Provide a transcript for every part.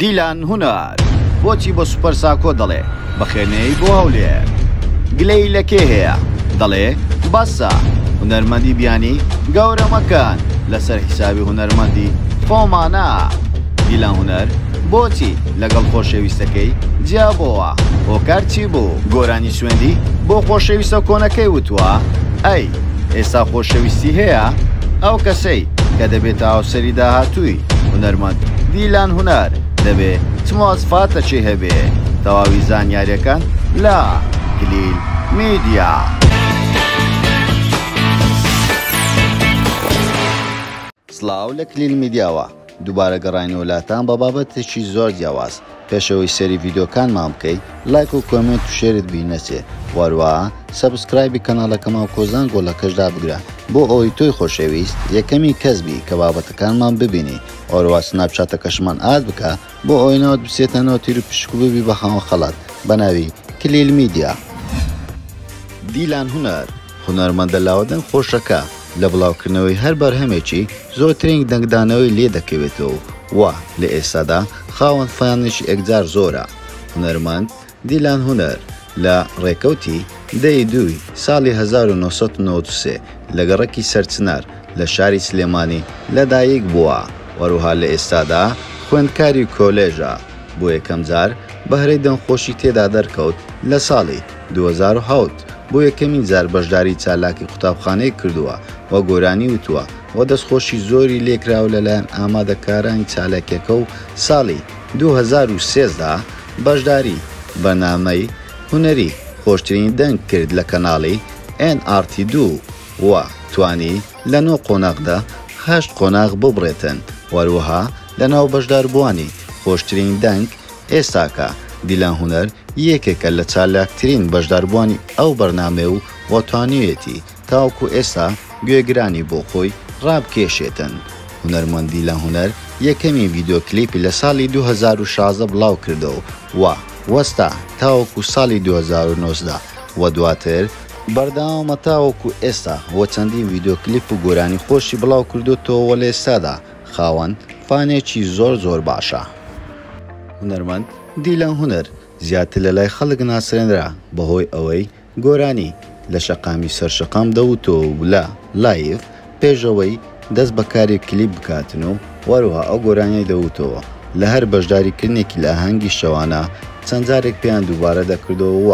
دیلان هونەر بۆچی بۆ سوپەر ساکۆ دەڵێ بەخێنەیەی بۆ هەولێر گلەیی لە کێ هەیە دەڵێ بەسە هونەرمەندی بیانی گەورە مەکەن لەسەر حیسابی هونەرمەندی خۆمانە دیلان هونەر بۆچی لەگەڵ خۆشەویستەکەی جیا بۆوە هۆکار چی بوو گۆرانی سوێندی بۆ خۆشەویستە کۆنەکەی وتوە ئەی ئێستا خۆشەویستی هەیە ئەو کەسەی کە دەبێتە هاوسەری داهاتووی هونەرمەند دیلان هونەر دەبێ چ مواسفاتەکی هەبێ تەواوی زانیارەکان لە کلیل میدیا. سڵاو لە کلیل میدیاوە دووبارە گەڕاینەوە لاتان بە بابەتێکی زۆر جیاواز پێش ئەوەی سەیری ڤیدۆکانمان بکەی لایک و کۆمێنت و شێرت بی نەچێ وەروەها سەبسکرایبی کەناڵەکەماو کۆزان گۆڵەکەش دابگرە بۆ ئەوەی تۆی خۆشەویست یەکەمین کەس بی کە بابەتەکانمان ببینی وەروەها سناپ چاتەکەشمان ئاد بکە بۆ ئەوەی ناوت بچێتە ناو تیر و پشک و ببی بە خاوەن خەڵات بە ناوی کلیل میدیا دیلان هونەر. هونەرمەندە لاوە دەنگ خۆشەکە لە بڵاوکردنەوەی هەر بەرهەمێکی زۆرترین دەنگدانەوەی لێ دەکەوێتەوە و لە ئێستادا خاوەن فانێکی ئێکجار زۆرە هونەرمەند دیلان هونەر لە ڕێکەوتی دە ی دووی ساڵی هەزار و نۆ سەد و نەوەد و سێ لە گەڕەکی سەرچنار لە شاری سلێمانی لە دایک بووە وەروها لە ئێستادا خوێندکاری کۆلێژە بۆ یەکەم جار بەهرەی دەنگخۆشی تێدا دەرکەوت لە ساڵی دوو هەزار و حەوت، بۆ یەکەمین جار بەشداری چالاکی قوتابخانەیەک کردووە و گۆرانی وتووە و دەستخۆشی زۆری لێکراوە لەلایەن ئامادەکارانی چالاکیەکە و ساڵی دوو هەزار و سێزدە بەشداری بەرنامەی هونەری خۆشترین دەنگ کرد لە کەناڵی ئێن ئاڕ تی دوو و توانی لە نۆ قۆناغدا هەشت قۆناغ ببڕێتن وەروەها لەناو بەشداربووانی خۆشترین دەنگ ئێستاکە دیلان هونەر یەکێکە لە چالاکترین بەشداربووانی ئەو بەرنامەیە و توانیویەتی تاوەکو ئێستا گوێگرانی بۆ خۆی ڕابکێشێتن. هونەرمەند دیلان هونەر یەکەمین ڤیدیۆ کلیپی لە ساڵی دوو هەزار و شازدە بڵاوکردەوە و وەستا تاوەکو ساڵی دوو هەزار و نۆزدە و دواتر، بەردەوامە تاوەکو ئێستا و چەندین ڤیدیۆ کلیپ و گۆرانی خۆشی بڵاوکردۆتەوە و لە ئێستادا، خاوەن فانێکی زۆر زۆر باشە. هونەرمەند دیلان هونەر زیاتر لە لای خەڵک ناسرێنرا بەهۆی ئەوەی گۆرانی لە شەقامی سەر شەقام دەوتۆ و لە، لایڤ، پێش ئەوەی دەست بە کاری کلیپ بکاتن و وەروها ئەو گۆرانیەی دەوتۆوە لە هەر بەشداری کردنێکی لە ئاهەنگی شەوانە چەند جارێک پێیان دووبارە دەکردۆ و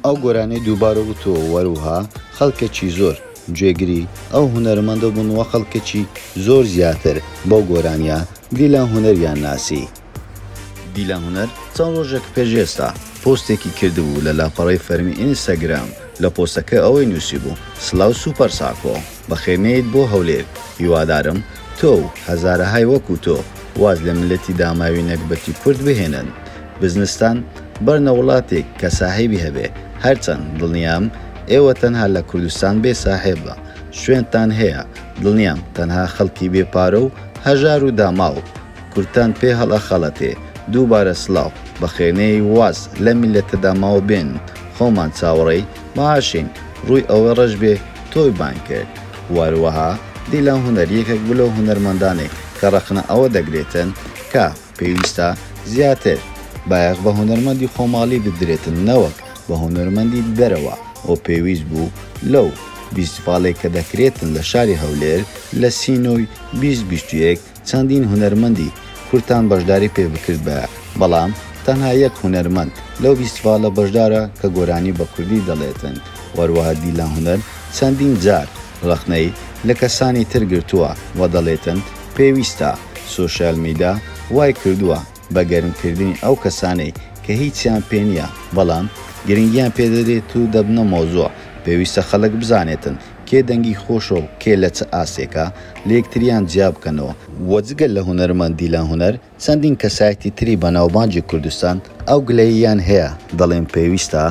ئەو گۆرانی دووبارە وتۆ و وەروها خەڵکێکی زۆر جێگری ئەو هونەرمەندە بوون وە خەڵکەکی زۆر زیاتر بەو گۆرانیە دیلان هونەریان ناسی. دیلان هونەر چەند ڕۆژێک پێش ئێستا پۆستێکی کردبوو لە لاپەڕەی فەرمی ئینستاگرام لە پۆستەکە ئەوەی نوسیبوو سلاو سوپەر ساکۆ بەخێرنێیت بۆ هەولێر هیوادارم تۆ و هەزارەهای وەکو تۆ واز لە میلەتی داماوی نەگبەتی کورد بهێنن بزنستان بەرنە وڵاتیک کە ساحێبی هەبێ هەرچەن دڵنیام ئێوە تەنها لە کوردستان بێ ساحێب بە شوێنتان هەیە دڵنیام تەنها خەڵکی بێ پارە و هەژار و داماو کوردتان پێ هەڵئەخەڵەتێ دووبارە سڵاو بەخێرنێی واز لەم میلەتە داماوە بێن خۆمان چاوەڕێی معاشین ڕووی ئەوە ڕەش بێ تۆی بانگ کرد وەروەها دیلان هونەر یەکێک بلەو هونەرمەندانەی کە ڕەخنە ئەوە دەگرێتن کە پێویستە زیاتر بایەخ بە هونەرمەندی خۆماڵی بدرێتن نەوەک بە هونەرمەندی دەرەوە و پێویست بوو لەو بیستفاڵەی کە دەکرێتن لە شاری هەولێر لە سینۆی بیست بیست و یەک چەندین هونەرمەندی کورتان بەشداری پێ بکردبایە بەڵام تەنها یەک هونەرمەند لەو بیستفاڵە بەشدارە کە گۆرانی بە کوردی دەڵێتن وەروەها دیلان هونەر چەندین جار ڕەخنەی لە کەسانی تر گرتووە و دەڵێتن پێویستە، سۆشیال میدا وای کردووە بە گەرم کردنی ئەو کەسانەی کە هیچیان پێ نییە بەڵام گرنگیان پێ دەدرێت و دەبنە مەوزوع، پێویستە خەڵک بزانێتن کێ دەنگی خۆشە و کێ لە چ ئاستێکە، لە یەکتریان جیا بکەنەوە. وە جگە لە هونەرمەند دیلان هونەر چەندین کەسایەتی تری بەناوبانگی کوردستان ئەو گلەییەیان هەیە، دەڵێن پێویستە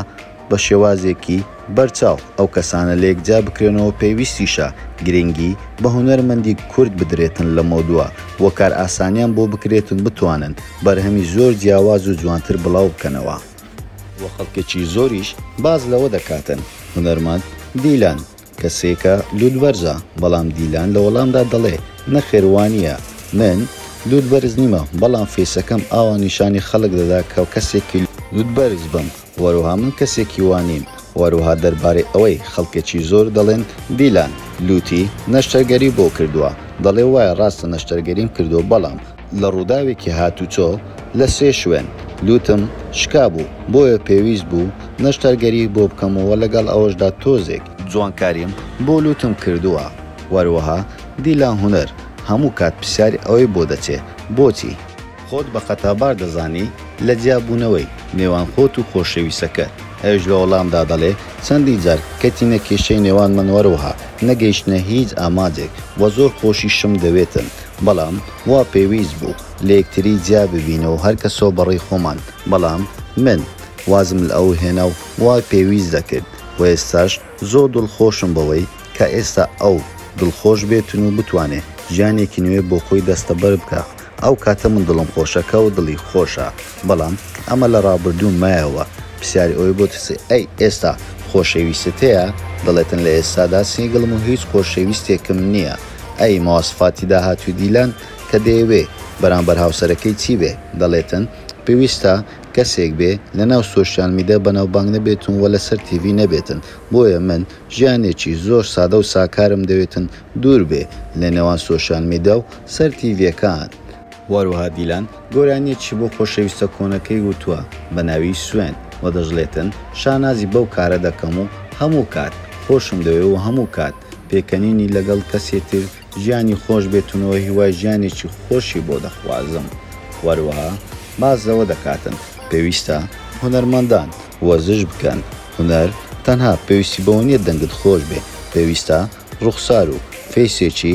بە شێوازێکی بەرچاو ئەو کەسانە لەیەکجیا بکرێنەوە، پێویستیشە گرنگی بە هونەرمەندی کورد بدرێتن لە مۆدوە و کارئاسانیان بۆ بکرێتن بتوانن بەرهەمی زۆر جیاواز و جوانتر بڵاو بکەنەوە. و خەڵکێکی زۆریش باس لەوە دەکاتن هونەرمەند دیلان کەسێکە لوت بەرزە بەڵام دیلان لە وەڵامدا دەڵێ نەخێر وانیە من لوت بەرز نیمە بەڵام فەیسەکەم ئاوا نیشانی خەڵک دەدا کە کەسێکی لوت بەرز بم وەروها من کەسێکی وانیم وەروها دەربارەی ئەوەی خەڵکێکی زۆر دەڵێن دیلان لوتی نەشتەرگەری بۆ کردوە دەڵێ وایە ڕاستە نەشتەرگەریم کردوە بەڵام لە ڕووداوێکی هاتوچۆ لە سێ شوێن، لووتم شکابوو، بۆیە پێویست بوو نەشتەرگەری بۆ بکەم و لەگەڵ ئەوەشدا تۆزێک، جوانکاریم بۆ لووتم کردووە، وەروەها دیلان هونەر، هەموو کات پرسیاری ئەوەی بۆ دەچێ، بۆچی؟ خۆت بە خەتابار دەزانی لە جیابوونەوەی نێوان خۆت و خۆشەویستەکەت، ئەویش لە وەڵامدا دەڵێ، چەندین جار کەتینە کێشەی نێوانمان وەروەها نەگەیشتنە هیچ ئامانجێک و زۆر خۆشیشم دەوێتن، بەڵام وا پێویست بوو لە یەکتری جیا ببینە و هەر کەسۆ بە ڕێی خۆمان، بەڵام من وازم لە ئەو هێنا و وا پێویست دەکرد و ئێستاش زۆر دڵ خۆشم بەوەی کە ئێستا ئەو دڵ خۆش بێتن و بتوانێ ژیانێکی نوێ بۆ خۆی دەستە بەر بکا ئەو کاتە من دڵم خۆشە کە ئەو دڵی خۆشە بەڵام ئەمە لە ڕابردوو مایەوە پرسیاری ئەوەی بۆ ترسێ ئەی ئێستا خۆشەویستت هەیە دەڵێتن لە ئێستادا سینگڵم و هیچ خۆشەویستێکم نیە ئەی مواسفاتی داهاتووی دیلان کە دەیەوێ بەرامبەر هاوسەرەکەی چی بێ دەڵێتن پێویستە کەسێک بێ لەناو سۆشیال میدە بەناوبانگ نەبێتن و لەسەر تیڤی نەبێتن بۆیە من ژیانێکی زۆر سادە و ساکارم دەوێتن دوور بێ لەنێوان سۆشیال میدە و سەر تیڤیەکان. واروها دیلان گۆرانیەکی بۆ خۆشەویستە کۆنەکەی وتوە بەناوی سوێن و دەشڵێتن شانازی بەو کارە دەکەم و هەموو کات خۆشم دەوێ و هەموو کات پێکەنینی لەگەڵ کەسێ تر ژیانی خۆش بێتنەوە هیوای ژیانێکی خۆشی بۆ دەخوازم وەروەها باس لەوە دەکاتن پێویستە هونەرمەندان وەرزش بکەن هونەر تەنها پێویستی بەوە نیە دەنگت خۆش بێ پێویستە ڕوخسارو فەیسێکی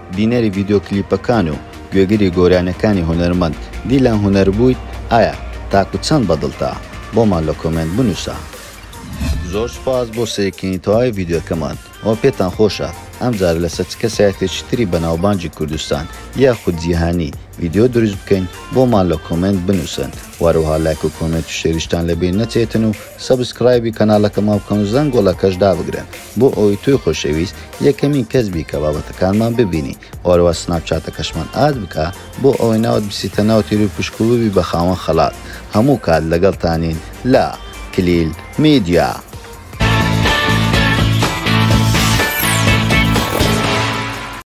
بینەری ڤیدیۆ کلیپەکان و گوێگری گۆرانیەکانی هونەرمەند دیلان هونەر بوویت ئایا تاکو چەند بەدڵتە بۆمان لە کۆمێنت بنووسە. زۆر سوپاس بۆ سەیرکردنی تەواوی ڤیدیۆکەمان وە پێتان خۆشە ئەم جارە لەسەر چ کەسایەتێکی تری بەناوبانگی کوردستان یاخود جیهانی ڤیدیۆ دروست بکەین بۆمان لە کۆمێنت بنووسن وەروەها لایک و کۆمێنت و شێریشتان لەبیر نەچێتن و سەبسکرایبی کەناڵەکەمان بکەن و زەنگۆڵەکەش دابگرن. بۆ ئەوەی تۆی خۆشەویست یەکەمین کەس بی کە بابەتەکانمان ببینی و هەروە سناپچاتەکەشمان ئاد بکە بۆ ئەوەی ناوت بچیتە ناو تیروی پشک و ببی بە خاوەن خەڵات هەموو کات لەگەڵتانین لە، کلیل میدیا.